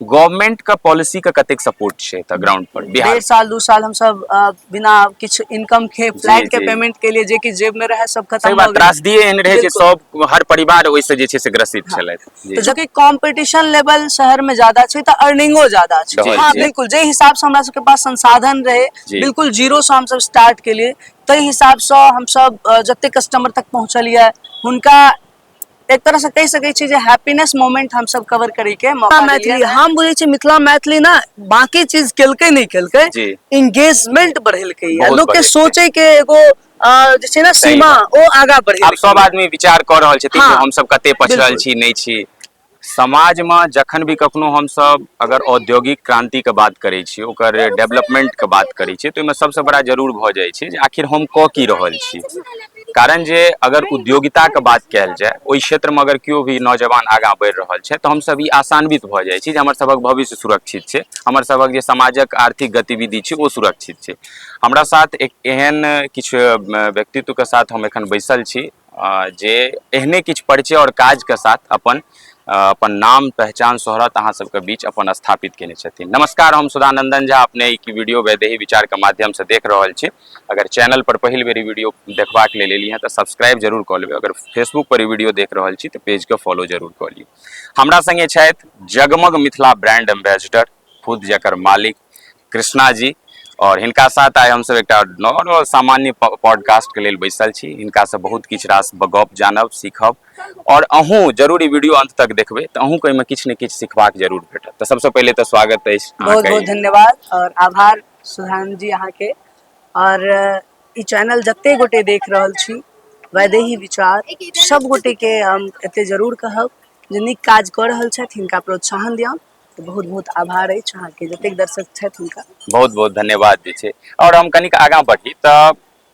Government का policy का कतेक सपोर्ट छै एतऽ ग्राउंड पर बिहार डेढ़ साल दू साल हम सब अ, बिना किछु इनकम के जी, फ्लैट के जी। पेमेंट के लिए जे कि जेब में रहे सब सही खत्म बात हो गए त्रासदी एहन रहै जे बिल्कुल। सब हर परिवार ओहिसँ जे छै से ग्रसित छलथि जी। तो जबकि कंपटीशन लेवल शहर में ज्यादा छै तो अर्निंगो ज्यादा छै जी, हाँ जी। बिल्कुल जे हिसाब से हमरा सबके पास संसाधन रहे जी। बिल्कुल जीरो से हम सब स्टार्ट के लिए ताहि हिसाब से हम सब अ, जते कस्टमर तक पहुंचल ये हुनका एक तरह से कह सके छी जे हैप्पीनेस मोमेंट हम सब कवर करे के मौका मैथिली हम बुझे छी मिथिला मैथिली ना बाकी चीज केलके नहीं केलके एंगेजमेंट बढ़ेलके या लोग के सोचे के एगो जे छै ना सीमा ओ आगा बढ़े अब सब आदमी विचार कर रहल छथिन हाँ, हम सब कते पछड़ल छी नहीं छी समाजमे जखन भी कखनो हमसब अगर औद्योगिक क्रान्तिके बात करै छी ओकर डेवलपमेन्टके बात करै छी तऽ ओहिमे सबसँ बड़ा जरूर भऽ जाइ छै जे आखिर हम कऽ की रहल छी कारण जे अगर उद्योगिताके बात कयल जाय ओहि क्षेत्रमे अगर केओ भी नौजवान आगाँ बढ़ि रहल छै तऽ हमसब ई आशान्वित भऽ जाइ छी जे हमर सबहक भविष्य सुरक्षित छै हमर सबहक जे समाजक आर्थिक गतिविधि छै ओ सुरक्षित छै हमरा साथ एक एहन किछु व्यक्तित्वके साथ हम एखन बैसल छी जे एहने किछु परिचय आओर काजके साथ अपन अपन नाम पहचान शोहरत अहाँ सबके बीच अपन स्थापित केने छथिन नमस्कार हम सुधानंदन झा अपने ई वीडियो वैदेही विचारके माध्यमसँ देख रहल छी अगर चैनल पर पहिल बेर वीडियो देखबाक लेल एलियै तऽ सब्सक्राइब जरूर कऽ लेबै अगर फेसबुक पर वीडियो देख रहल छी तऽ पेजके फॉलो जरूर कऽ लियौ हमरा संगे छथि जगमग मिथिला ब्रांड एम्बेसडर खुद जकर मालिक कृष्णा जी आओर हिनका साथ आइ हमसभ एकटा नॉर्मल सामान्य पॉडकास्टके लेल बैसल छी हिनकासँ बहुत किछु रास गप जानब सीखब आओर अहूँ जरूर ई वीडियो अंत तक देखबै तऽ अहूँके एहिमे किछु ने किछु सिखबाक जरूर भेटत तऽ सबसँ पहिले तऽ स्वागत अछि बहुत बहुत धन्यवाद आओर आभार सुधान जी अहाँके आओर ई चैनल जते गोटे देख रहल छी वैदेही विचार सब गोटेके हम एते जरूर कहब जे नीक काज कऽ रहल छथि हिनका प्रोत्साहन दियौन तऽ बहुत बहुत आभार अछि अहाँके जतेक दर्शक छथि हुनका बहुत बहुत धन्यवाद जे छै आओर हम कनिक आगाँ बढ़ी तऽ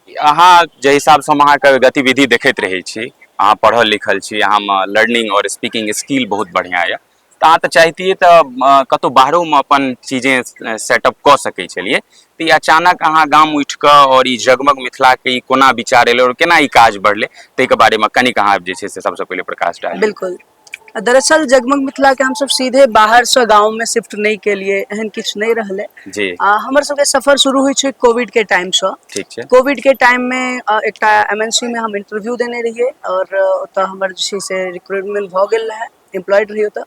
अहाँ जाहि हिसाबसँ हम अहाँके गतिविधि देखैत रहै छी अहाँ पढ़ल लिखल छी अहाँमे लर्निंग आओर स्पीकिंग स्किल बहुत बढ़िआँ यए तऽ अहाँ तऽ चाहितियै तऽ अ, कतहु बाहरोमे अपन चीजें सेटअप कऽ सकै छलियै तऽ ई अचानक अहाँ गाम उठि कऽ आओर ई जगमग मिथिलाके ई कोना विचार एलै आओर केना ई काज बढ़लै ताहिके बारेमे कनिक अहाँ जे छै से सभसँ पहिले प्रकाश डाली बिल्कुल दरअसल जगमग मिथिला के हमसब सीधे बाहर से गांव में शिफ्ट नहीं के लिए एहन किछ नहीं रहले जी आ हमर सबके सफर शुरू होय छै कोविड के टाइम से ठीक छै कोविड के टाइम में एकटा एमएनसी में हम इंटरव्यू देने रहिए और ओतऽ हमर जे छै से रिक्रूटमेंट भऽ गेल रहै एम्प्लॉयड रहिए ओतऽ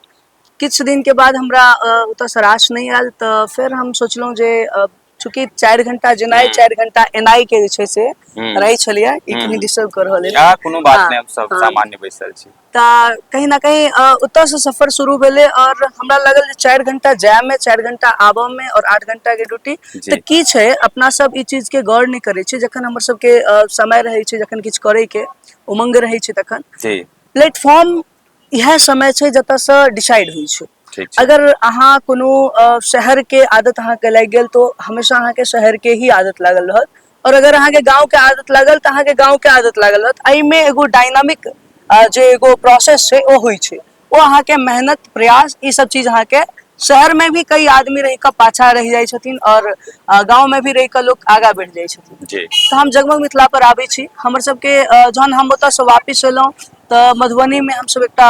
किछु दिन के बाद हमरा ओतऽ सराश नहि आयल तऽ फेर हम सोचलहुँ जे चूँकि चारि घंटा जेनाइ हम्म। चारि घंटा एनाइ के जे छै से हम्म। रहै छलैया ई कनी हम्म। डिस्टर्ब कर रहल या अइ कोनो बात हँ, नहि हम सब हँ। सामान्य बैसल छी तऽ कहीं ना कहीं अ, ओतय से सफर शुरू भेलै और हमरा लागल जे चारि घंटा जाय में चारि घंटा आबऽ में और आठ घंटा के ड्यूटी तऽ जी की छै अपना सब ई चीज के गौर नहि करै छियै जखन हमर सबके अ, समय रहै छै जखन किछु करैके उमंग रहै छै तखन जी प्लेटफॉर्म इएह समय छै जतय से डिसाइड होइ छै ठीक छै अगर अहाँ कोनो शहर के आदत अहाँ के लागि गेल तो हमेशा अहाँ के शहर के ही आदत लागल रहत और अगर अहाँ के गाँंव के आदत लागल तऽ अहाँ के गाँंव के आदत लागल रहत एहि मे एगो डायनामिक जे एगो प्रोसेस छै ओ होइ छै ओ अहाँ के मेहनत प्रयास ई सब चीज अहाँ के शहर मे भी कई आदमी रहि के पाछा रहि जाइ छथिन और गाँंव मे भी रहि के लोक आगाँ बढ़ि जाइ छथिन जी तऽ हम जगमग मिथिला पर आबै छी हमर सब के जहन हम ओतय से वापिस एलहुँ तऽ मधुबनीमे हमसभ एकटा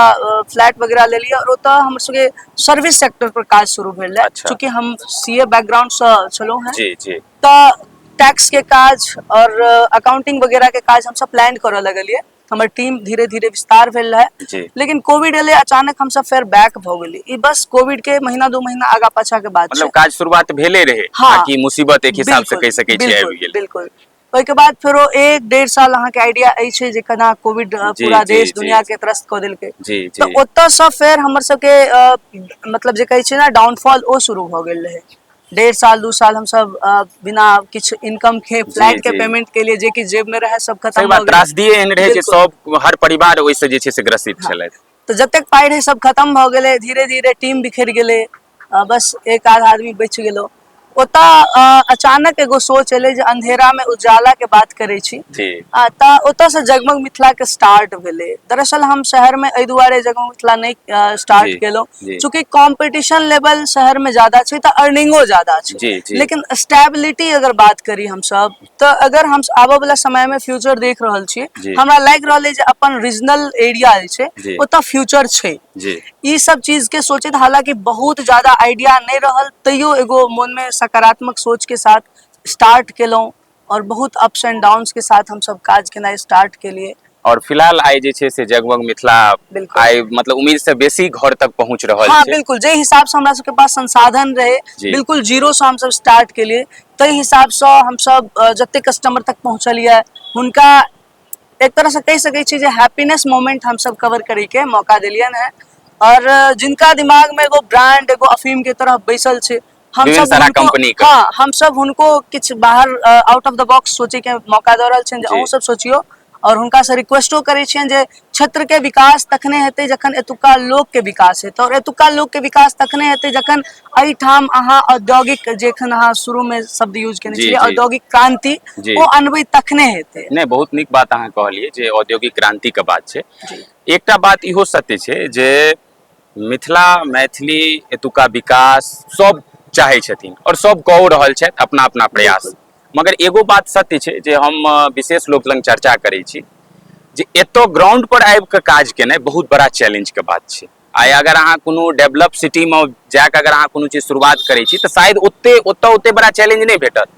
फ्लैट वगैरह लेलियै आओर ओतऽ हमर सबके सर्विस सेक्टर पर काज शुरू भेल रहै अच्छा। चूँकि हम सी ए बैकग्राउंडसँ छलहुँ हेँ जी जी तऽ टैक्स के काज और अकाउंटिंग वगैरह के काज हमसब प्लान करऽ लगलिए हमर टीम धीरे धीरे विस्तार भेल रहे जी लेकिन कोविड एले अचानक हम सब फेर बैक भऽ गेली ई बस कोविड के महीना दू महीना आगा पाछा के बात मतलब छै काज शुरुआत भेले रहे हँ। बाकी मुसीबत एक हिसाब से बिल्कुल, कह सकै छियै बिल्कुल, आबि गेल बिल्कुल ओहिके बाद फेरो एक डेढ़ साल अहाँके आइडिया अछि जे केना कोविड अ, जी, पूरा जी, देश जी, दुनिया जी। के त्रस्त कऽ देलकै जी जी तऽ ओतयसँ फेर हमर सबके अ, मतलब जे कहै छै ने डाउनफॉल ओ शुरू भऽ गेल रहै डेढ़ साल दू साल हमसब अ, बिना किछु इनकम के फ्लैट के जी। पेमेंट के लिए जे किछु जेब में रहै सब सही खत्म बात भऽ गेल त्रासदी एहन रहै जे बिल्कुल। सब हर परिवार ओहिसँ जे छै से ग्रसित छलथि तऽ जतेक पाइ रहै सब खत्म भऽ गेलै धीरे धीरे टीम बिखरि गेलै आ बस एक आध आदमी बच गेलो ओता अचानक एगो सोच एले जे अंधेरा में उजाला के बात करे छी जी आ ता ओतय से जगमग मिथिला के स्टार्ट भेले दरअसल हम शहर में एहि दुआरे जगमग मिथिला नहीं जी, स्टार्ट जी। केलहुँ चूंकि कंपटीशन लेवल शहर में ज्यादा छै तऽ अर्निंगो ज्यादा जी, छै जी। लेकिन स्टेबिलिटी अगर बात करी हम सब तऽ अगर हम आबऽ वाला समय में फ्यूचर देख रहल छी जी। हमरा लाग रहल है जे अपन रीजनल एरिया जे छै जी। ओतऽ फ्यूचर छै जी ई सब चीज के सोचैत हालांकि बहुत ज्यादा आइडिया नहि रहल तैयो एगो मन में सकारात्मक सोच के साथ स्टार्ट केलहुँ और बहुत अप्स एंड डाउन्स के साथ हम सब काज केनाइ स्टार्ट केलिए और फिलहाल आइ जे छै से जगमग मिथिला आइ मतलब उम्मीद से बेसी घर तक पहुंच रहल हाँ, छै बिल्कुल जे हिसाब से हमरा सबके पास संसाधन रहे बिल्कुल जीरो से हम सब स्टार्ट के लिए तै हिसाब से हम सब जते कस्टमर तक पहुंचलिए हुनका एक तरह से कह सके छी जे हैप्पीनेस मोमेंट हम सब कवर करे के मौका देलियन है और जिनका दिमाग में एगो ब्रांड एगो अफीम के तरह बैसल छै हम विभिन्न सब सारा हुनको- कंपनी के हाँ हम सब हुनको किछ बाहर आउट ऑफ द बॉक्स सोचे के मौका दऽ रहल छनि जे जी। अहूँ सब सोचियो और हुनका से रिक्वेस्टो करै छियनि जे क्षेत्र के विकास तखने हेतै जखन एतुका लोक के विकास हेतै और एतुका लोक के विकास तखने हेतै जखन एहिठाम अहाँ औद्योगिक जखन अहाँ शुरू में शब्द यूज केने जी, छलियै जी। औद्योगिक क्रांति जी। ओ अनबै तखने हेतै नहि बहुत नीक बात अहाँ कहलियै जे औद्योगिक क्रांति के बात छै जी। एकटा बात इहो सत्य छै जे मिथिला मैथिली एतुका विकास सब चाहै छथिन आओर सब कहो रहल छथि अपना अपना प्रयास मगर एगो बात सत्य छै जे हम विशेष लोक लग चर्चा करै छी जे एतौ ग्राउंड पर आबि कऽ काज केनाइ बहुत बड़ा चैलेंज के बात छै आइ अगर अहाँ कोनो डेवलप सिटीमे जाकऽ अगर अहाँ कोनो चीज शुरुआत करै छी तऽ शायद ओते ओतऽ ओते बड़ा चैलेंज नहि भेटत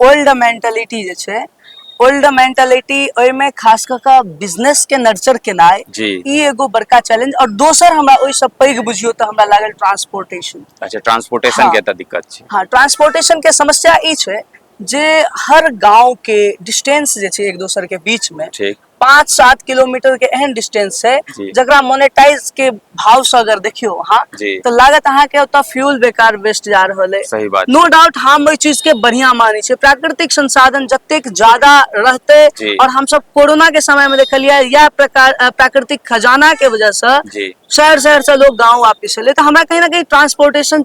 ओल्ड मेंटालिटी जे छै ओल्ड मेंटालिटी ओहिमे खास कऽ कऽ बिजनेस के नर्चर केनाइ जी। ई एगो बड़का चैलेंज और दोसर हमरा ओहिसँ पैघ बुझियौ तऽ हमरा लागल ट्रांसपोर्टेशन अच्छा ट्रांसपोर्टेशन हाँ। के एतऽ दिक्कत छै हाँ ट्रांसपोर्टेशन के समस्या ई छै जे हर गांव के डिस्टेंस जे छै एक दोसर के बीच में ठीक पाँच सात किलोमीटर के एहन डिस्टेंस छै जी। जकरा मोनेटाइज के भाव से अगर देखियो अहाँ जी। तो लागत अहाँ के ओतऽ फ्यूल बेकार वेस्ट जा रहल है सही बात नो डाउट हम एहि चीज के बढ़िया माने छियै प्राकृतिक संसाधन जतेक ज्यादा रहते जी। और हम सब कोरोना के समय में देखलियै यह प्रकार अ, प्राकृतिक खजाना के वजह से जी शहर शहर से लोग गांव वापिस एले तो हमरा कहीं ना कहीं ट्रांसपोर्टेशन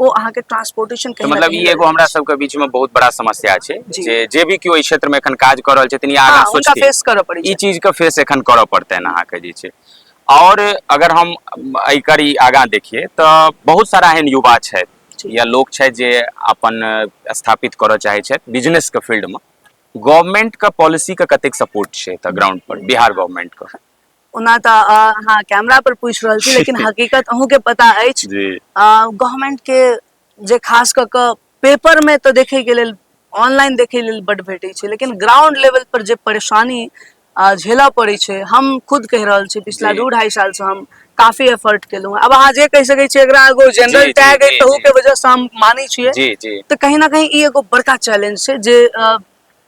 ओ अहाँके ट्रांसपोर्टेशन के मतलब ई एगो हमरा सबके बीच में बहुत बड़ा समस्या छै जे जे भी केओ एहि क्षेत्र में एखन काज कर रहल छथिन या आगाँ सोचती फेस करऽ पड़ै ई चीज के फेस एखन करऽ पड़तनि अहाँके जे छै और अगर हम एकर ई आगाँ देखिए तो बहुत सारा एहन युवा छथि या लोक छथि जे अपन स्थापित करऽ चाहै छथि बिजनेस के फील्ड में गवर्नमेंट के पॉलिसी के कतेक सपोर्ट छै एतऽ ग्राउंड पर बिहार गवर्नमेंट के ओना तऽ अहाँ कैमरा पर पूछि रहल छी लेकिन हकीकत अहूँके पता अछि गवर्नमेंट के जे खास कऽ कऽ पेपर में तऽ देखे के लेल ऑनलाइन देखे लेल बड भेटे छै लेकिन ग्राउंड लेवल पर जे परेशानी झेलय पड़े छै हम खुद कहि रहल छी पिछला दू ढाई साल से हम काफी एफर्ट केलहुँ अब अहाँ जे कहि सकै छियै एकरा एगो जनरल टैग के वजह से हम मानै छियै तऽ कहीं ना कहीं ई एगो बड़का चैलेंज छै जे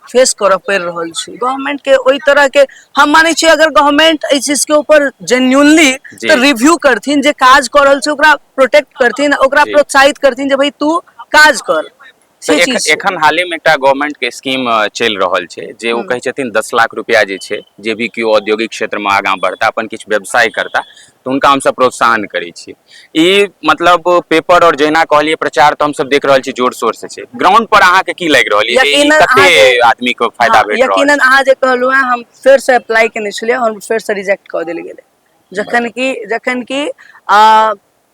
फेस करऽ पड़ि रहल छै गवर्नमेंट के ओहि तरह के हम माने छियै अगर गवर्नमेंट एहि चीज के ऊपर जेन्यूनली जी। तऽ रिव्यू करथिन जे काज कऽ रहल छै ओकरा प्रोटेक्ट करथिन ओकरा जी। प्रोत्साहित करथिन जे भाई तू काज कर तऽ से एख- चीज छै। एखन हाले में एकटा गवर्नमेंट के स्कीम अ, चलि रहल छै जे ओ कहै छथिन दस लाख रुपया जे छै जे भी केओ औद्योगिक क्षेत्र में आगाँ बढ़ता अपन किछु व्यवसाय करता तऽ हुनका हमसभ प्रोत्साहन करै छी ई मतलब पेपर और जहिना कहलिए प्रचार तऽ हमसभ देख रहल छी जोर शोर से छै ग्राउंड पर अहाँके की लागि रहल यऽ जे कते आदमी के फायदा हाँ, भेट रहल यकीनन अहाँ जे कहलहुँ हैं हम फेर से अप्लाई केने छलियै हम फेर से रिजेक्ट कऽ देल गेलै जखन कि जखन कि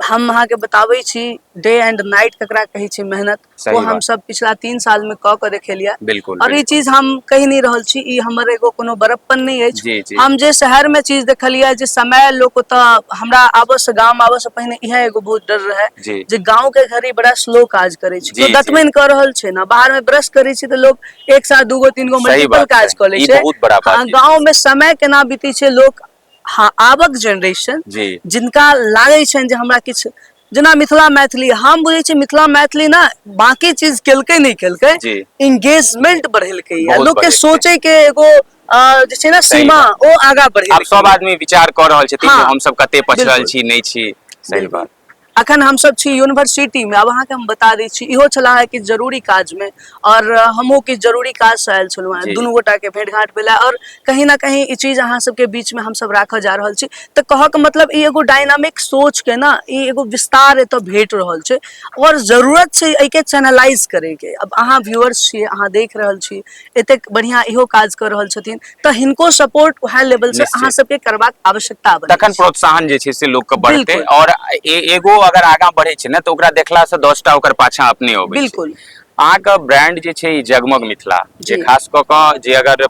हम अहाँके बताबै छी डे एंड नाइट ककरा कहै छै मेहनत सही ओ हम बात। सब पिछला तीन साल में क के देखेलिया बिल्कुल और ई बिल्कुल। चीज हम कहि नहीं रहल छी ई हमर एगो कोनो बड़प्पन नहीं अछि जी जी हम जे शहर में चीज देखलिया जे समय लोक ओता हमरा आबो से गाम आबो से पहिने इहे एगो बहुत डर रहे जी जे गांव के घड़ी बड़ा स्लो काज करे छै जी, तो जी। दतमैन क रहल छै ने बाहर में ब्रश करे छै त लोग एक साथ दूगो तीन गो सही मल्टीपल बात काज छै। क ले ई छै बहुत बड़ा बात हाँ, छै। गांव में समय केना बीते छै लोक हँ आबक जेनरेशन जी जिनका लागै छनि जे हमरा किछु जेना मिथिला मैथिली हम बुझै छी मिथिला मैथिली ने बाकी चीज केलकै नहि केलकै जी इंगेजमेंट बढ़ेलकै या बहुत लोक के बढ़ेलकै। सोचे के एगो अ, जे छै ने सही सीमा बात। ओ आगा आब बढ़ेलकै सब आदमी विचार कऽ रहल छथिन जे हँ, हमसब कते पछड़ल बिल्कुल। छी नहि छी सही बिल्कुल। बात अखन हम सब छी यूनिवर्सिटी में अब अहाँ के हम बता दै छी इहो छला है कि जरूरी काज में और हमहु कि जरूरी काज से आयल छलहुँ हैं दुनू गोटा के भेंट घाट भेला और कहीं ना कहीं ई चीज अहाँ सब के बीच में हम सब राखऽ जा रहल छी तऽ कहऽ के मतलब ई एगो डायनामिक सोच के ना ई एगो विस्तार एतऽ भेट रहल छै और जरूरत छै एहि के चैनलाइज करे के अब अहाँ व्यूअर्स छी अहाँ देख रहल छी एतेक बढ़िया इहो काज कऽ रहल छथिन तऽ हिनको सपोर्ट वएह लेवल से अहाँ सबके करबाक आवश्यकता बन तखन प्रोत्साहन जे छै से लोक के बढ़ते और एगो अगर आगा बढ़े छै ने तऽ ओकरा देखला से 10 टा ओकर पाछा अपने होबे बिल्कुल अहाँके ब्रांड जे छै जगमग मिथिला जे खास कऽ कऽ जे अगर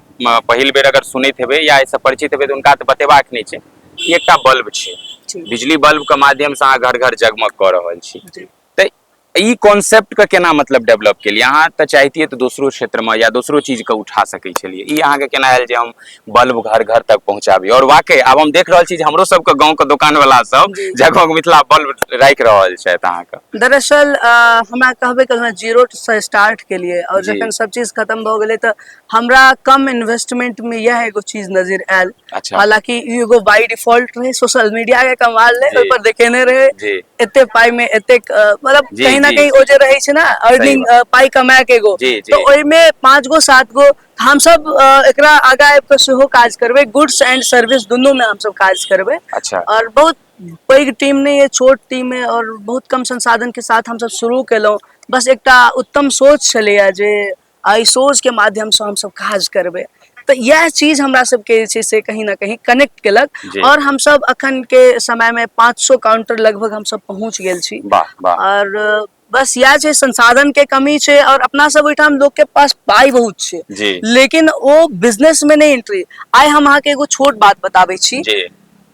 पहिल बेर अगर सुनैत हेबै या एहिसँ परिचित हेबै तऽ हुनका तऽ बतेबाक नहि छै ई एकटा बल्ब छै बिजली बल्ब के माध्यम से अहाँ घर घर जगमग कऽ रहल छी तऽ ई कॉन्सेप्टके केना मतलब डेवलप केलियै अहाँ तऽ चाहितियै तऽ दोसरो क्षेत्रमे या दोसरो चीजके उठा सकै छलियै ई अहाँके केना आयल जे हम बल्ब घर घर तक पहुँचाबी आओर वाकई आब हम देख रहल छी जे हमरो सबके गाँवके दोकानवला सब जगह मिथिला बल्ब राखि रहल छथि अहाँके दरअसल हमरा कहबे केलहुँ जीरो से स्टार्ट केलियै आओर जखन सब चीज खतम भऽ गेलै तऽ हमरा कम इन्वेस्टमेंट में यह एगो चीज नजर आयल अच्छा हालांकि ई एगो बाय डिफॉल्ट रहे सोशल मीडिया के कमाल रहे जी। ओहि पर देखेने रहे जी एते पाई में एते मतलब जी, कहीं ना जी, कहीं जी। ओ जे रहे छै ना अर्निंग बात। पाई कमाए के एगो जी, जी। तो ओहि में पांच गो सात गो तऽ हम सब अ, एकरा आगा आबि कऽ सेहो काज करबै गुड्स एंड सर्विस दुनू में हम सब काज करबै अच्छा और बहुत पैघ टीम नहीं है छोट टीम है और बहुत कम संसाधन के साथ हम सब शुरू केलहुँ बस एकटा उत्तम सोच छलैया जे एहि शोजके माध्यमसँ हमसभ काज करबै तऽ इएह चीज हमरा सबके जे छै से कहीं ना कहीं कनेक्ट केलक जी। आओर हमसभ अखन के समय मे 500 काउंटर लगभग हमसभ पहुंच गेल छी वाह वाह आओर अ, बस इएह छै संसाधन के कमी छै आओर अपना सब ओहिठाम लोग के पास पाइ बहुत छै जी लेकिन ओ बिजनेस में नहीं एंट्री आइ हम अहाँके एगो छोट बात बताबै छी जी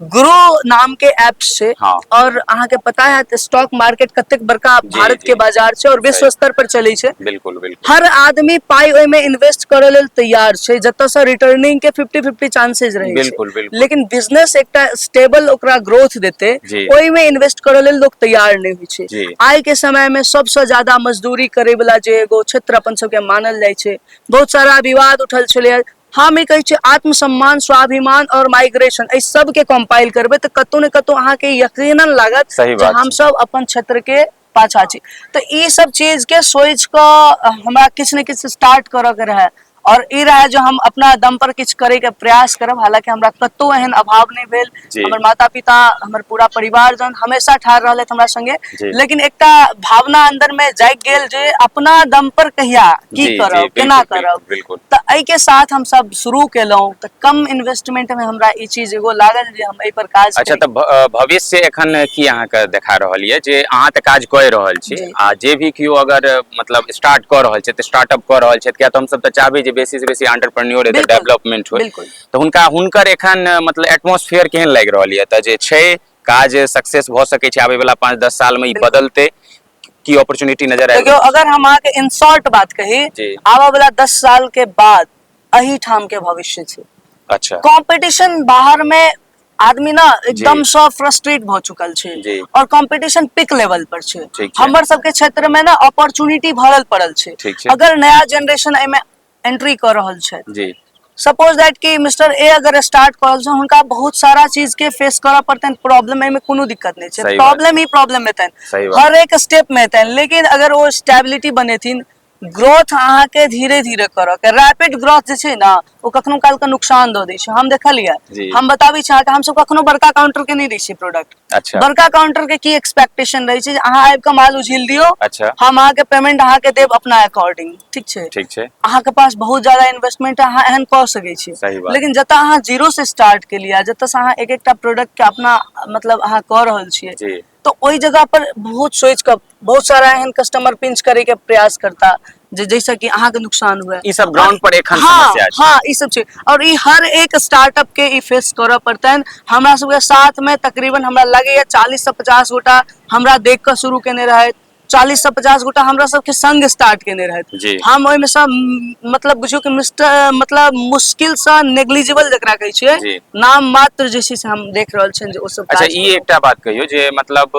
ग्रो नाम के ऐप से हाँ। और अहाँ के पता है तो स्टॉक मार्केट कते बड़का जी, भारत जी। के बाजार से और विश्व सही। स्तर पर चले छे बिल्कुल बिल्कुल हर आदमी पाई ओय में इन्वेस्ट करे लेल तैयार छे जत से रिटर्निंग के 50 50 चांसेस रहे छे बिल्कुल बिल्कुल लेकिन बिजनेस एकटा स्टेबल ओकरा ग्रोथ देते जी। ओय में इन्वेस्ट करे लेल लोग तैयार नहीं होय छे जी आय के समय में सबसे ज्यादा मजदूरी करे वाला जे एगो क्षेत्र अपन सबके मानल जाय छे बहुत सारा विवाद उठल छले हम ई कहै छी आत्मसम्मान स्वाभिमान और माइग्रेशन एहि सबके कम्पाइल करबै तऽ कतौ ने कतौ अहाँके यकीनन लागत सही बात हम सब अपन क्षेत्र के पाछा छी तऽ ई सब चीज के सोच कऽ हमरा किछु ने किछु स्टार्ट करऽ के रहै और ई रहै जे हम अपना दम पर किछु करै के प्रयास करब हालांकि हमरा कतौ एहन अभाव नहि भेल जी हमर माता पिता हमर पूरा परिवार जन हमेशा ठाढ़ रहलथि हमरा संगे जी। लेकिन एकटा भावना अंदर में जाग गेल जे अपना दम पर कहिया की जी, जी, करब बिल्कुल, केना बिल्कुल, करब बिल्कुल। तऽ एहि के साथ हम सब शुरू केलहुँ तऽ कम इन्वेस्टमेंट में हमरा ई चीज एगो लागल जे हम एहि पर काज अच्छा करी। तऽ भ- अ, भविष्य एखन की अहाँके देखा रहल यऽ जे अहाँ तऽ काज कऽ रहल छी जी। आ जे भी केओ अगर अ, मतलब स्टार्ट कऽ रहल छथि स्टार्टअप कऽ रहल छथि किया तऽ हमसभ तऽ चाहबै जे बेसी से बेसी एंटरप्रेन्योर एतऽ बिल्कुल, डेवलपमेंट होय बिल्कुल। तऽ हुनका हुनकर एखन मतलब एटमोसफियर केहन लागि रहल यऽ तऽ जे छै काज सक्सेस भऽ सकै छै आबै वाला पाँच दस साल मे ई बदलतै की अपॉर्चुनिटी नजर आबि देखियौ अगर हम अहाँके इन शॉर्ट बात कही आबऽ वाला दस साल के बाद अही ठाम के भविष्य छै अच्छा कॉम्पिटिशन बाहर मे आदमी ना एकदम सँ फ्रस्ट्रेट भऽ चुकल छै और कंपटीशन पिक लेवल पर छै हमर सबके क्षेत्र में ना अपॉर्चुनिटी भरल पड़ल छै अगर नया जनरेशन एहिमे एंट्री कऽ रहल छथि जी सपोज दैट कि मिस्टर ए अगर स्टार्ट कऽ रहल छथिन हुनका बहुत सारा चीज के फेस करऽ पड़तनि प्रॉब्लम एहिमे कोनो दिक्कत नहि छै सही बात। प्रॉब्लम ही प्रॉब्लम सही हेतनि बात। हर एक स्टेप मे हेतनि लेकिन अगर ओ स्टेबिलिटी बनेथिन ग्रोथ अहाँके धीरे धीरे करऽ के रैपिड ग्रोथ जे छै ने ओ कखनो काल के नुकसान दऽ दै छै हम जी। देखलियै हम बताबै छी अहाँके हमसब कखनो बड़का काउंटर के नहि दै छियै प्रोडक्ट अच्छा बड़का काउंटर के की एक्सपेक्टेशन रहे छै जे अहाँ आबि के माल उझिल दियो अच्छा हम अहाँ के पेमेंट अहाँ के देब अपना अकॉर्डिंग ठीक छै ठीक छै अहाँ के पास बहुत ज्यादा इन्वेस्टमेंट है अहाँ एहन कऽ सकै छी सही बात लेकिन जतऽ अहाँ जीरो से स्टार्ट के लिए जतऽ से अहाँ एक एकटा प्रोडक्ट के अपना मतलब अहाँ कऽ रहल छियै जी तऽ ओहि जगह पर बहुत सोचि कऽ बहुत सारा एहन कस्टमर पिंच करे के प्रयास करता जे जैसे कि अहाँ के नुकसान हुए ई सब ग्राउंड पर एखन हाँ समस्या छै हाँ ई सब छै और ई हर एक स्टार्टअप के ई फेस करऽ पड़तनि हमरा सबके साथ में तकरीबन हमरा लगैया चालीस से पचास गोटा हमरा देख कऽ शुरू केने रहथि चालीस से पचास गोटा हमरा सबके संग स्टार्ट केने रहथि जी। हम ओहिमे से म, मतलब बुझियौ कि मिस्टर मतलब मुश्किल से नेग्लिजिबल जकरा कहै जी। छियै नाम मात्र जे छै से हम देख रहल छियनि जे ओ सब अच्छा काज ई करऽ। एकटा बात कहियौ जे मतलब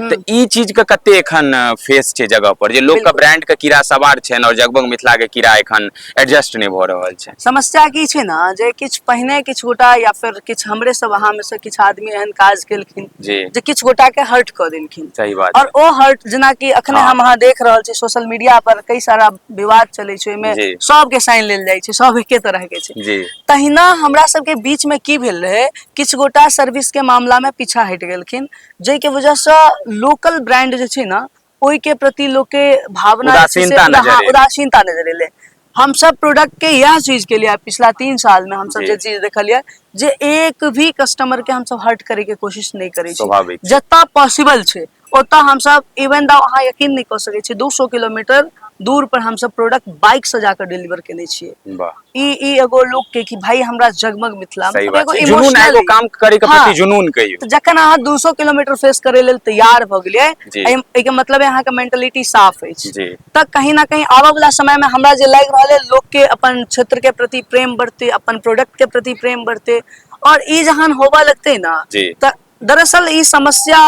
तऽ ई चीज के कते एखन फेस छै जगह पर जे लोक के ब्रांड के कीड़ा सवार छै और जगबग मिथिला के कीड़ा एखन एडजस्ट नै भ रहल छै समस्या की छै ना जे किछ पहिने किछ गोटा या फिर किछ हमरे सब अहा में से किछ आदमी एहन काज केलखिन जे किछ गोटा के हर्ट क देलखिन सही बात और ओ हर्ट जेना कि अखने हाँ। हम अहा देख रहल छी सोशल मीडिया पर कई सारा विवाद चले छै में सब के साइन लेल जाय छै सब एके तरह के छै जी तहिना हमरा सब के बीच में की भेल रहे किछ गोटा सर्विस के मामला में पीछा हट गेलखिन जाहिके वजहसँ लोकल ब्रांड जे छै ने ओहिके प्रति लोकके भावना जे छै से उदासीनता नजर हँ, एलै। उदासीनता नजर एलै हम सब प्रोडक्ट के इएह चीज के लिए पिछला तीन साल में हम सब जी। जे चीज देखलियै जे एक भी कस्टमर के हम सब हर्ट करे के कोशिश नहि करै छी स्वाभाविक। जतऽ पॉसिबल छै ओतऽ हम सब इवन द अहाँ यकीन नहि कऽ सकै छी 200 किलोमीटर दूर पर हम सब प्रोडक्ट बाइक से जाकर डिलीवर केने छियै वाह ई ई एगो लोक के कि भाई हमरा जगमग मिथिला में सही मतलब बात एगो छै। जुनून emotional- एगो काम करे के हाँ। प्रति जुनून कहियो तऽ जखन अहाँ 200 किलोमीटर फेस करे लेल तैयार भऽ गेलियै जी। एहि- एहिके मतलब है अहाँके मेंटलिटी साफ अछि जी तऽ कहीं ना कहीं आबऽ वाला समय में हमरा जे लागि रहल है लोक के अपन क्षेत्र के प्रति प्रेम बढ़ते अपन प्रोडक्ट के प्रति प्रेम बढ़ते और ई जहन होबऽ लगते ना जी। तऽ दरअसल ई समस्या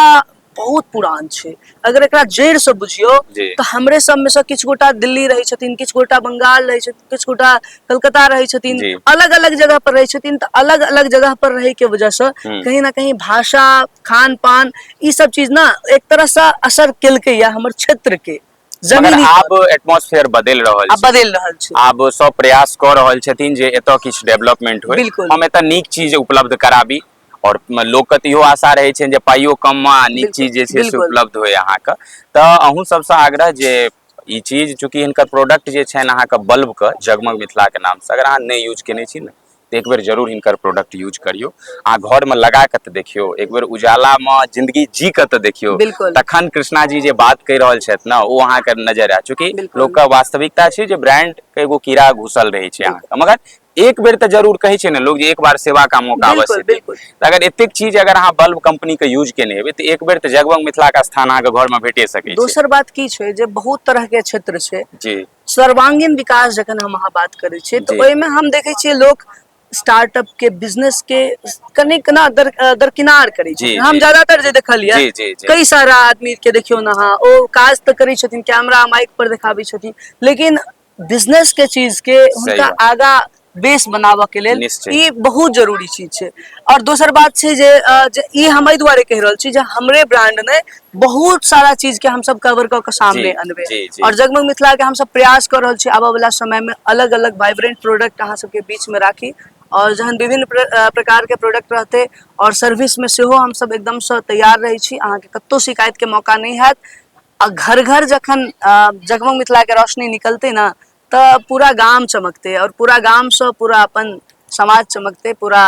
बहुत पुरान छै अगर एकरा जड़ से बुझियो तो हमरे सब में से किछ गोटा दिल्ली रहे छथिन किछ गोटा बंगाल रहे छथिन किछ गोटा कलकत्ता रहे छथिन अलग अलग जगह पर रहे छथिन तो अलग अलग जगह पर रहे के वजह से हम्म। कहीं ना कहीं भाषा खान पान ई सब चीज ना एक तरह से असर कल के या हमर क्षेत्र के मगर आब एटमोसफेयर बदल रहल छै बदल रहल छै आब सब प्रयास क रहल छथिन जे एतय किछ डेवलपमेंट होय हम एतय नीक चीज उपलब्ध कराबी आओर लोकके तऽ इहो आशा रहै छै जे पाइयो कममे आ नीक चीज जे छै से उपलब्ध होय अहाँके तऽ अहूँ सबसँ आग्रह जे ई चीज चूँकि हिनकर प्रोडक्ट जे छनि अहाँके बल्बके जगमग मिथिलाके नामसँ अगर अहाँ नहि यूज केने छी ने तऽ एक बेर जरूर हिनकर प्रोडक्ट यूज करियौ अहाँ घरमे लगा कऽ तऽ देखियौ एक बेर उजालामे जिन्दगी जी कऽ तऽ देखियौ तखन कृष्णा जी जे बात कहि रहल छथि ने ओ अहाँके नजर आयत चूँकि लोकके वास्तविकता छै जे ब्रांड एगो कीड़ा घुसल रहै छै अहाँके मगर एक बेर तऽ जरूर कहै छै ने लोग जे एक बार सेवा का मौका बिल्कुल अवश्य दे। बिल्कुल तऽ अगर एतेक चीज अगर अहाँ बल्ब कंपनी के यूज केने हेबै तऽ एक बेर तऽ जगमग मिथिला का स्थान अहाँके घर में भेटे सकै छै दोसर बात की छै जे बहुत तरह के क्षेत्र छै जी सर्वांगीण विकास जखन हम अहाँ बात करै छियै जी। तऽ ओहिमे हम देखै छियै लोक स्टार्टअप के बिजनेस के कने कना दर, अ, दरकिनार करै जी, छै हम जी। ज्यादातर जे देखलियै जी, जी, जी। कई सारा आदमी के देखियौ ने अहाँ ओ काज तऽ करै छथिन कैमरा माइक पर देखाबै छथिन लेकिन बिजनेस के चीज के हुनका आगा बेस बनाबऽ के लेल ई बहुत जरूरी चीज छै और दोसर बात छै जे ई हम एहि दुआरे कहि रहल छी जे हमरे ब्रांड ने बहुत सारा चीज के हम सब कवर क के सामने अनबे और जगमग मिथिला के हम सब प्रयास कर रहल छी आबे वाला समय में अलग अलग वाइब्रेंट प्रोडक्ट अहाँ सबके बीच में राखी और जहन विभिन्न प्रकार के प्रोडक्ट रहते और सर्विस में सेहो हम सब एकदम से तैयार रहे छी अहाँ के कत्तो शिकायत के मौका नहीं हैत आ घर घर जखन जगमग मिथिला के रोशनी निकलते ना त पूरा गाम चमकते और पूरा गाम से पूरा अपन समाज चमकते पूरा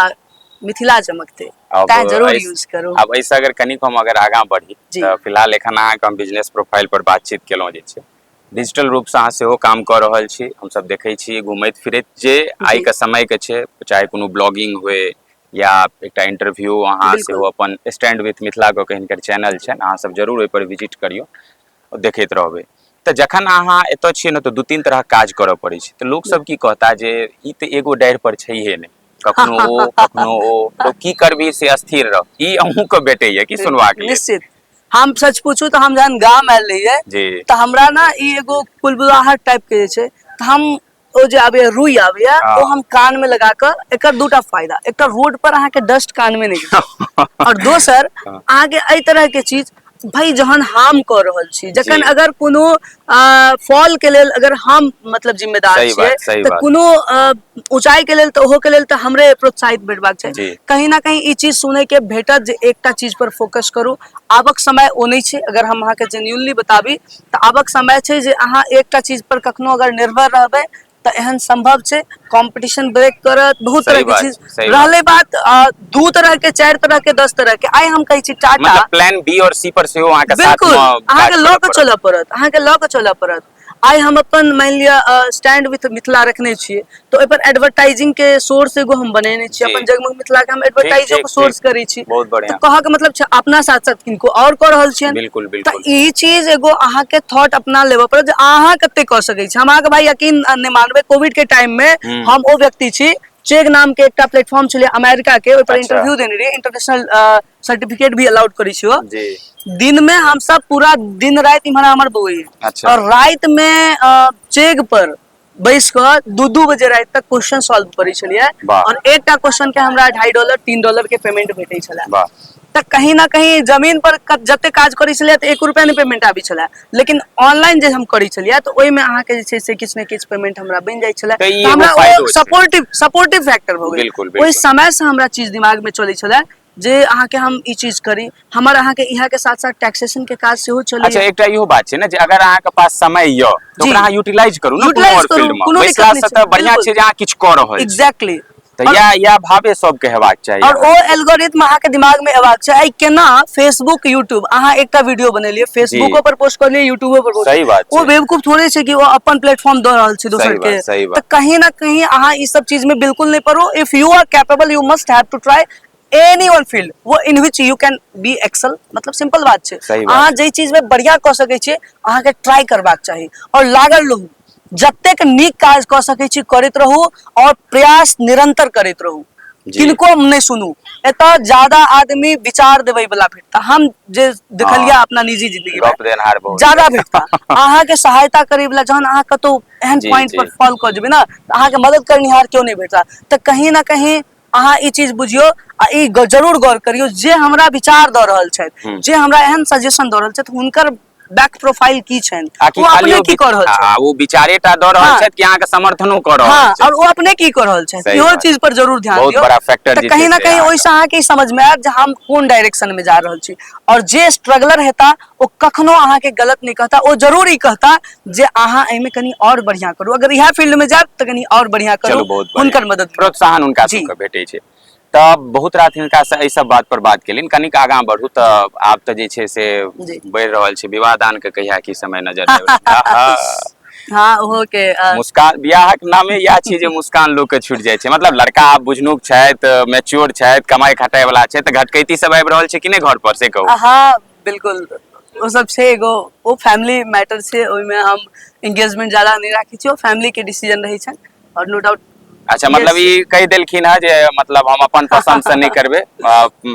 मिथिला चमकते अब तां जरूर ऐस- यूज करू आब एहिसँ अगर कनिक हम अगर आगाँ बढ़ी जी। तऽ फिलहाल एखन अहाँके हम बिजनेस प्रोफाइल पर बातचीत केलहुँ जे छै डिजिटल रूपसँ अहाँ सेहो काम कऽ रहल छी हमसभ देखै छी घुमैत फिरैत जे आइके समयके छै चाहे कोनो ब्लॉगिंग होय या एकटा इंटरव्यू अहाँ बिल्कुल। सेहो अपन स्टैंड विथ मिथिला कऽ के हिनकर चैनल छनि अहाँ सब जरूर ओहिपर विजिट करियौ आ देखैत रहबै तऽ जखन अहाँ एतऽ छियै ने तऽ दू तीन तरहक काज करऽ पड़ै छै तऽ लोक सब की कहता जे ई तऽ एगो डारि पर छैहे नहि कखनो ओ कखनो ओ लोक की करबी से अस्थिर रह ई अहूँके भेटैया की सुनबाक लेल निश्चित हम सच पूछू तऽ हम जहन गाम आयल रहियै जी तऽ हमरा ने ई एगो कुलबुलाहट टाइप के जे छै तऽ हम ओ जे आबैया रुई आबैया हाँ। ओ हम कान में लगा कर एक दूटा फायदा एक रोड पर अहाँ के डस्ट कान में नहीं और दोसर हाँ। अहाँ के अ तरह के चीज भाई जहन हार्म कर रहल छी जखन अगर कोनो फॉल के लेल अगर हम मतलब जिम्मेदार छियै तऽ कोनो ऊंचाई के लेल तऽ ओहो के लेल तऽ हमरे प्रोत्साहित भेटबाक छै कहीं ना कहीं ई चीज सुने के भेटत जे एकटा चीज पर फोकस करू आबक समय ओ नहि छै अगर हम अहाँके जेन्यूनली बताबी तऽ आबक समय छै जे अहाँ एकटा चीज पर कखनो अगर निर्भर रहबै तऽ एहन सम्भव छै कॉम्पिटिशन ब्रेक करत बहुत तरह सही के बात चीज छै सही रहले बात आ दू तरह के चारि तरह के दस तरह के आइ हम कहै छी टाटा मतलब प्लान बी और सी पर सेहो अहाँके साथ बिल्कुल मे काज अहाँके लऽ करऽ कऽ पड़त चलय पड़त अहाँके लऽ कऽ चलय पड़त आइ हम अपन मानि लिअ स्टैंड विथ मिथिला रखने छियै तो एहि पर एडवर्टाइजिंग के सोर्स एगो हम बनेने छी जी। अपन जगमग मिथिला के हम एडवर्टाइजो ठीक, के सोर्स ठीक। करै छी बहुत तो बढ़िया कह के मतलब छै अपना साथ साथ किनको और कऽ रहल छियन बिल्कुल तऽ बिल्कुल ई चीज एगो अहाँ के थॉट अपना लेबऽ पड़त जे अहाँ कते कऽ सकै छी हम अहाँ के भाई यकीन नहि मानबे कोविड के टाइम में हम्म। हम ओ व्यक्ति छी चेग नाम के एकटा प्लेटफॉर्म छलै अमेरिका के ओहि पर अच्छा। इंटरव्यू देने रहियै इंटरनेशनल सर्टिफिकेट भी अलाउड करै छियो जी दिन में हम सब पूरा दिन रात इम्हर हमर बौए अच्छा। और रात में अ, चेग पर बैस कऽ दू दू बजे राति तक क्वेश्चन सॉल्व करै छलियै वाह। और एकटा क्वेश्चन के हमरा ढाई डॉलर तीन डॉलर के पेमेंट भेटै छलै वाह तऽ कहीं ना कहीं जमीन पर क- जते काज करै छलियै तऽ एक रुपया नहि पेमेंट आबै छलै लेकिन ऑनलाइन जे हम करै छलियै तऽ ओहिमे अहाँके जे छै से किछु ने किछु पेमेंट हमरा बनि जाइ छलै तऽ ई तऽ हमरा एगो फायदो ओ छै। सपोर्टिव सपोर्टिव फैक्टर भऽ गेल बिल्कुल, बिल्कुल। ओहि समय से हमरा चीज दिमाग में चलै छलै जे अहाँके हम ई चीज करी हमर अहाँके इहा के साथ साथ टैक्सेशन के काज सेहो चले अच्छा एकटा इहो बात छै ने जे अगर अहाँके पास समय य तो ओकरा अहाँ यूटिलाइज करू ने कोनो और फील्ड में बैसला से त बढ़िया छै जे अहाँ किछ क रहल छी एग्जैक्टली त या या भावे सब के हेबाक चाही और ओ एल्गोरिथम अहाँ के दिमाग में हेबाक छै आई केना फेसबुक यूट्यूब अहाँ एकटा वीडियो बनेलिए फेसबुको पर पोस्ट करलिए यूट्यूबो पर पोस्ट सही बात ओ बेवकूफ थोड़े छै कि ओ अपन प्लेटफॉर्म द रहल छै दोसर के त कहीं ना कहीं अहाँ ई सब चीज में बिल्कुल नहीं पड़ो if you are capable you must have to try any one field वो in which you can be excel मतलब सिंपल बात छै सही बात। अहाँ जे चीज में बढ़िया कऽ सकै छियै अहाँ के ट्राई करबाक चाही और लागल रहू जतेक नीक काज कऽ सकै छी करैत रहू और प्रयास निरंतर करैत रहू जी। किनको हम नहि सुनू एतऽ ज्यादा आदमी विचार देबै वाला भेटता हम जे देखलिया हाँ। अपना निजी जिंदगी गप देनहार बहुत ज्यादा भेटता अहाँ के सहायता करे वाला जहन अहाँ कतौ एहन जी, पॉइंट जी। पर फॉल कऽ जेबै ना तऽ अहाँ के मदद करनिहार केओ नहि भेटता तऽ कहीं ना कहीं अहाँ ई चीज बुझियो आ ई जरूर गौर करियो जे हमरा विचार द रहल छै जे हमरा एहन सजेशन द रहल छै हुनकर बैक प्रोफाइल की छै वो अपने की कर रहल छै वो विचारे टा द रहल हाँ। छै कि अहाँ के समर्थनो कर रहल हाँ, छै और वो अपने की कर रहल छै इहो चीज पर जरूर ध्यान दियो बहुत बड़ा फैक्टर त कहीं ना कहीं ओइसे अहाँ के समझ में आत जे हम कोन डायरेक्शन में जा रहल छी और जे स्ट्रगलर हेता ओ कखनो अहाँके गलत नहि कहता ओ जरूर ई कहता जे अहाँ एहिमे कनि आओर बढ़िआँ करू अगर इएह फील्डमे जायब तऽ कनि आओर बढ़िआँ करू चलू बहुत बढ़िया। हुनकर मदद करू। प्रोत्साहन हुनका जी। सबके भेटै छै तऽ बहुत रात हिनका से एहि सब बात पर बात केलिन कनिक आगाँ बढ़ू तऽ आब तऽ जे छै से जी। बढ़ि रहल छै विवाह दान के कहिया की समय नजर आबि रहल छै। आहा, हँ ओहो के अ, मुस्कान बियाहक नामे इएह छियै जे मुस्कान लोक के छूटि जाइ छै मतलब लड़का आब बुझनुक छथि मैच्योर छथि कमाई खटाई वाला छथि तऽ घटकैती सब आबि रहल छै कि नहि घर पर से कहू अहाँ बिल्कुल ओ सब छै एगो ओ फैमिली मैटर छै ओहिमे हम एंगेजमेंट ज्यादा नहि राखै छी ओ फैमिली के डिसीजन रहै छै और नो डाउट अच्छा मतलब ई कहि देलखिन हँ जे मतलब हम अपन पसंद से नहि करबे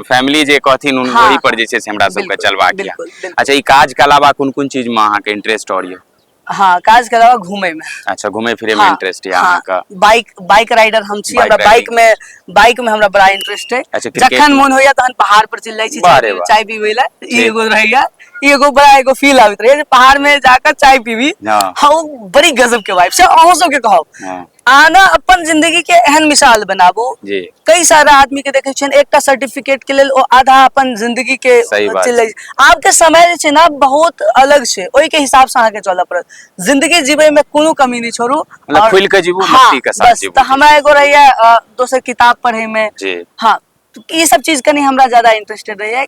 फैमिली जे कहथिन उन हाँ, वही पर जे छै से हमरा सबके चलबाक यऽ अच्छा ई काज के अलावा कोन कोन चीज में अहाँ के इंटरेस्ट और यऽ हाँ काज के अलावा घूमे में अच्छा घूमे फिरे में हाँ, इंटरेस्ट है हाँ, अहाँ का बाइक बाइक राइडर हम छी बाइक हमरा बाइक राइडिंग। में बाइक में हमरा बड़ा इंटरेस्ट है अच्छा, क्रिकेट जखन में? मन होइया तहन पहाड़ पर चल जाई छी वाह रे चाय वाह। चाय पीबै ला ई ठीक। एगो रहैया ई एगो बड़ा एगो फील आबैत रहैया जे पहाड़ में जाकर चाय पीबी हाँ। हाँ वो बड़ी गजब के वाइफ छै अहूँ सबके कहब हाँ। आना अपन जिंदगी के एहन मिसाल बनाबू जी कई सारा आदमी के देखे छियन एकटा सर्टिफिकेट के लेल ओ आधा अपन जिंदगी के सही बात चलै आब के समय जे छै ना बहुत अलग छै ओहि के हिसाब से अहाँ के चलऽ पड़त जिंदगी जीवे में कोनो कमी नहीं छोड़ू मतलब और- खुलि के जीबू, हाँ, मस्ती के साथ बस, जीबू। तऽ हमरा एगो रहैया अ, दोसर किताब पढ़े में जी हाँ तो ये सब चीज कनी हमरा ज्यादा इंटरेस्टेड रहैया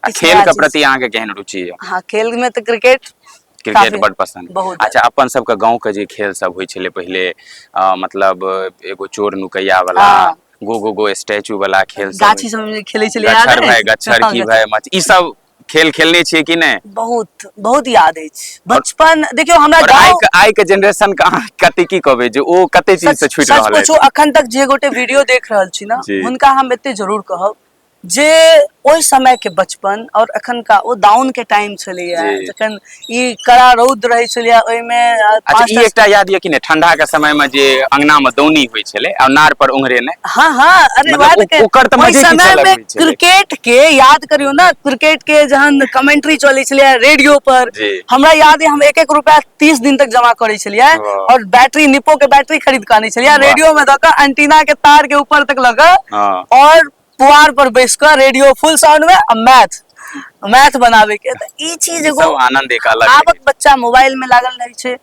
आ इस खेल के राज्य प्रति अहाँ के केहन रुचि यऽ हाँ खेल में तो क्रिकेट क्रिकेट काफी- बड पसंद बहुत अच्छा अपन सबके गांव के जे खेल सब होइ छलै पहिले अ, मतलब एगो चोर नुकैया वाला हाँ। गो गो गो स्टैचू वाला खेल सब गाछी सब में खेले चले याद गच्छर है? भाई गच्छर हाँ, की गच्छर। भाई मत ई सब खेल खेलने छियै कि नहि बहुत बहुत याद है बचपन देखियो हमरा और आइ गांव के आइ के जनरेशन के अहाँ कते की कहबै जे ओ कते चीज से छूटि रहल पूछो अछि अखन तक जे गोटे वीडियो देख रहल छी ना जी। हुनका हम एते जरूर कहब जे ओहि समय के बचपन और अखन का ओ दाउन के टाइम छलैया जी। जखन ई कड़ा रौद रहे छलैया ओहि में अच्छा ई एकटा याद यऽ कि ने ठंडा के समय में जे अंगना में दौनी होइ छलै आ नार पर उंगरेने हाँ हाँ अरे मतलब बात ओ- के ओकर तऽ ओहि मजे किछु समय अलग में होइ छलै। क्रिकेट के याद करियो ना क्रिकेट के जहन कमेंट्री चले छलैया रेडियो पर जी। हमरा याद है हम एक एक रुपया तीस दिन तक जमा करे छलियै वाह। और बैटरी निपो के बैटरी खरीद के आने छलियै वाह। रेडियो में दऽ के एंटीना के तार के ऊपर तक लगा हाँ। और पुआर पर बैस कऽ रेडियो फुल साउंड में आ मैथ मैथ बनावे के त ई चीज एगो सब आनंद एक अलग आबक है। बच्चा मोबाइल में लागल रहे छै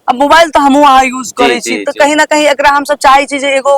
अब मोबाइल तो हमहू अहाँ यूज करे जी, छी तो जी। कहीं ना कहीं एकरा हम सब चाहे छी जे एगो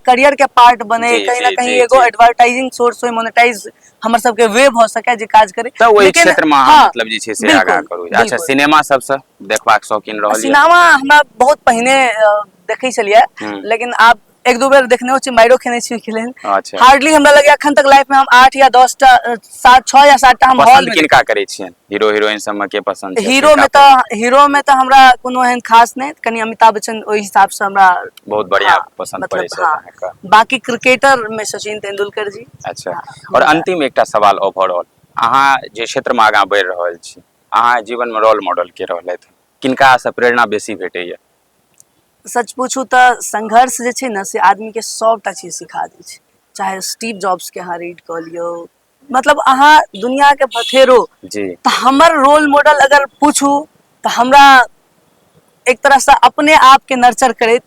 करियर के पार्ट बने जी, कहीं ना जी, कहीं जी, एगो जी। एडवर्टाइजिंग सोर्स होय मोनेटाइज हमर सब के वे भ सके जे काज करे तऽ ओहि लेकिन- क्षेत्र में अहाँ हाँ, मतलब जे छै से बिल्कुल, आगाँ करू अच्छा बिल्कुल। सिनेमा सबसँ देखबाक शौकीन रहल यऽ सिनेमा हमरा बहुत पहिने अ, देखै छलियै हम्म। लेकिन आब एक दू बेर देखने छी माइरो खेने छी ओहिके लेल अच्छा हार्डली हमरा लगैया अखन तक लाइफ में हम आठ या दस टा अ, सात छह या सात टा हम हॉल पसंद में किनका करै छियन हीरो हीरोइन सब में के पसंद छै? हीरो में किनका तऽ हीरो में तऽ हमरा कोनो एहन खास नहि कनि अमिताभ बच्चन ओहि हिसाब से हमरा बहुत बढ़िया हाँ, पसंद मतलब, पड़ै छै हाँ। अहाँके बाकी क्रिकेटर में सचिन तेंदुलकर जी अच्छा हाँ, और हाँ। अंतिम एकटा सवाल ओवरऑल अहाँ जे क्षेत्र में आगाँ बढ़ि रहल छी अहाँ जीवन में रोल मॉडल के रहलथि किनका से प्रेरणा बेसी भेटैया सच पुछू तऽ संघर्ष जे छै ने से आदमी के सबटा चीज सिखा दै छै चाहे स्टीव जॉब्स के अहाँ रीड कऽ लियौ मतलब अहाँ दुनिया के भथेरो जी तऽ हमर रोल मॉडल अगर पूछू तऽ हमरा एक तरह से अपने आप के नर्चर करैत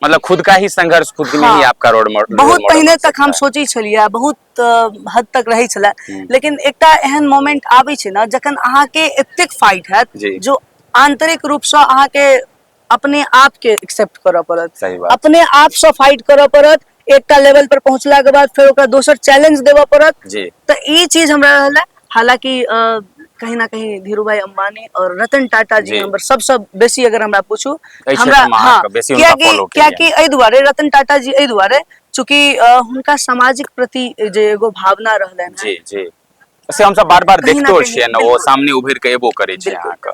मतलब खुद का ही संघर्ष खुद में ही हाँ। आपका रोड मॉडल बहुत पहले तक हम सोचे छलिए बहुत हद तक रहै छलै हम्म। लेकिन एकटा एहन मोमेंट आबै छै ने जखन अहाँके एतेक फाइट हैत जी। जो आंतरिक रूपसँ अहाँके अपने आपके एक्सेप्ट करऽ पड़त सही बात। अपने आपसँ फाइट करऽ पड़त एकटा लेवल पर पहुंचलाके बाद फेर ओकरा दोसर चैलेंज देबऽ पड़त जी तऽ ई चीज हमरा रहल है हालांकि अ, कहीं ना कहीं धीरू भाई अंबानी और रतन टाटा जी जी। हमर सबसँ बेसी अगर हमरा पूछू एहि हमरा क्षेत्रमे हाँ अहाँके बेसी हुनका कियाकि follow केलियनि। कियाकि एहि दुआरे रतन टाटा जी एहि दुआरे चूँकि अ, हुनका सामाजिक प्रति जे एगो भावना रहलनि हेँ, जी जी से हमसब बार बार कहीं ना देखतो कहीं, छियै ने ओ बिल्कुल। सामने उभरि के एबो करै छै बिल्कुल। अहाँके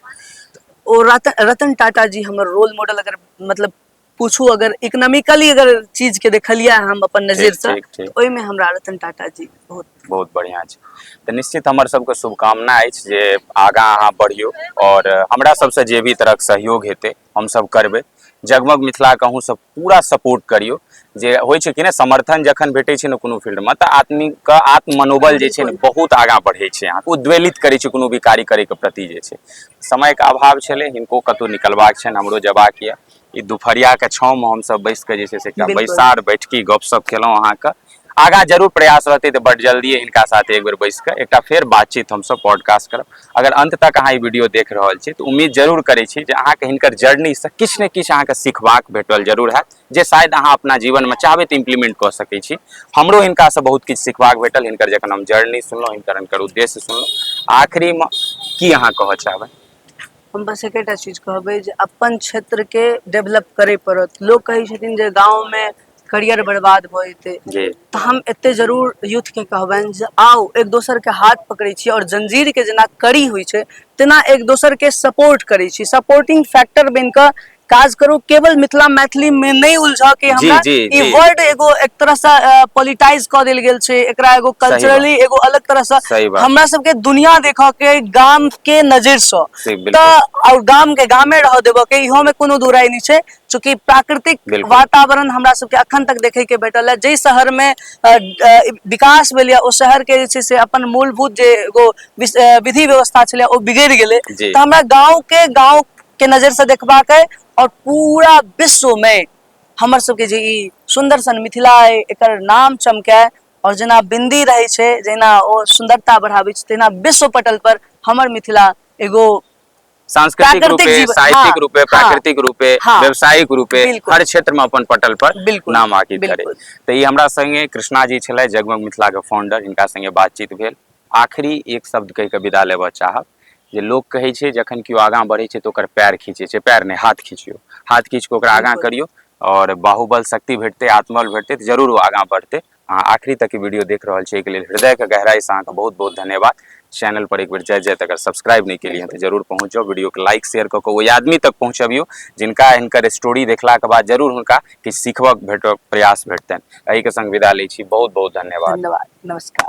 ओ रतन रतन टाटा जी हमर रोल मॉडल अगर मतलब पूछू अगर इकोनॉमिकली अगर चीज के देखलिए हम अपन नजर से ठीक, ठीक। ओहि में हमरा रतन टाटा जी बहुत बहुत बढ़िया छै तऽ निश्चित हमर सबके शुभकामना अछि जे आगाँ अहाँ बढ़ियौ आओर हमरा सबसँ जे भी तरहक सहयोग हेतै हमसभ करबै जगमग मिथिलाके अहूँसभ पूरा सपोर्ट करियौ जे होइ छै कि ने समर्थन जखन भेटै छै ने कोनो फील्डमे तऽ आदमीके आत्म मनोबल जे छै ने बहुत आगाँ बढ़ै छै अहाँके उद्वेलित करै छै कोनो भी कार्य करैके प्रति जे छै समयके अभाव छलै हिनको कतहु निकलबाक छनि हमरो जेबाक यए ई दुपहरियाके छाँवमे हमसभ बैस कऽ जे छै से एकटा बिल्कुल। बैसार बैठकी गपशप केलहुँ अहाँके आगा जरूर प्रयास रहतै तऽ बड जल्दिए हिनका साथ एक बेर बैस कऽ एकटा फेर बातचीत हमसभ पॉडकास्ट करब अगर अंत तक अहाँ ई वीडियो देख रहल छी तऽ उम्मीद जरूर करै छी जे अहाँके हिनकर जर्नीसँ किछु ने किछु अहाँके सिखबाक भेटल जरूर हैत जे शायद अहाँ अपना जीवनमे चाहबै तऽ इम्प्लीमेंट कऽ सकै छी हमरो हिनकासँ बहुत किछु सिखबाक भेटल हिनकर जखन हम जर्नी सुनलहुँ हिनकर हिनकर उद्देश्य सुनलहुँ आखिरीमे की अहाँ कहऽ चाहबै हम बस एकेटा चीज कहबै जे अपन क्षेत्रके डेवलप करय पड़त लोक कहै छथिन जे गाँवमे करियर बर्बाद भऽ जेतै जी तऽ हम एते जरूर यूथ के कहबनि जे आउ एक दोसर के हाथ पकड़ै छी और जंजीर के जेना कड़ी होइ छै तेना एक दोसर के सपोर्ट करै छी सपोर्टिंग फैक्टर बनि कऽ काज करू केवल मिथिला मैथिली में नहि उलझऽ के जी, हमरा जी, ई जी। वर्ड एगो एक तरह से पॉलिटाइज कऽ देल गेल छै एकरा एगो कल्चरली एगो अलग तरह से सही बात। हमरा सबके दुनिया देखऽ के गाम के नजर से सही, बिल्कुल। तऽ और गाम के गामे रह देबऽ के इहो में कोनो दुराई नहि छै चूँकि प्राकृतिक बिल्कुल। वातावरण हमरा सबके अखन तक देखै के भेटल है जाहि शहर में अ, अ, विकास भेल यऽ ओ शहर के जे छै से अपन मूलभूत जे एगो विस- अ, विधि व्यवस्था छलै ओ बिगड़ि गेलै जी। तऽ हमरा गाँव के गाँव के नजर से देखबाक है और पूरा विश्व में हमर सबके जे ई सुंदर सन मिथिला है एकर नाम चमकै और जेना बिंदी रहै छै जहिना ओ सुंदरता बढ़ाबै छै तहिना विश्व पटल पर हमर मिथिला एगो सांस्कृतिक प्राकृतिक रूपे जीवन- साहित्यिक हाँ, रूपे हाँ। प्राकृतिक रूपे हाँ। व्यावसायिक रूपे बिल्कुल। हर क्षेत्र में अपन पटल पर बिल्कुल, नाम आकित करे बिल्कुल। तो ये हमरा संगे कृष्णा जी छले जगमग मिथिला के फाउंडर इनका संगे बातचीत भेल आखिरी एक शब्द कहि के विदा लेबऽ चाहब जे लोक कहै छै जखन केओ आगाँ बढ़ै छै तऽ ओकर पैर खींचै छै पैर नहि हाथ खींचियो हाथ खींच कऽ ओकरा आगाँ बिल्कुल। करियो और बाहुबल शक्ति भेटतै आत्मबल भेटतै तऽ जरूर ओ आगाँ बढ़तै अहाँ आखिरी तक ई वीडियो देख रहल छियै एहिके लेल हृदयके गहराइसँ अहाँके बहुत बहुत धन्यवाद चैनल पर एक बेर जाइत जाइत अगर सब्सक्राइब नहि केलियै तऽ जरूर पहुँच जाउ वीडियोके लाइक शेयर कऽ कऽ ओहि आदमी तक पहुँचबियौ जिनका हिनकर स्टोरी देखलाके बाद जरूर हुनका किछु सिखबक भेटक प्रयास भेटतनि एहिके संग विदा लै छी बहुत बहुत धन्यवाद धन्यवाद नमस्कार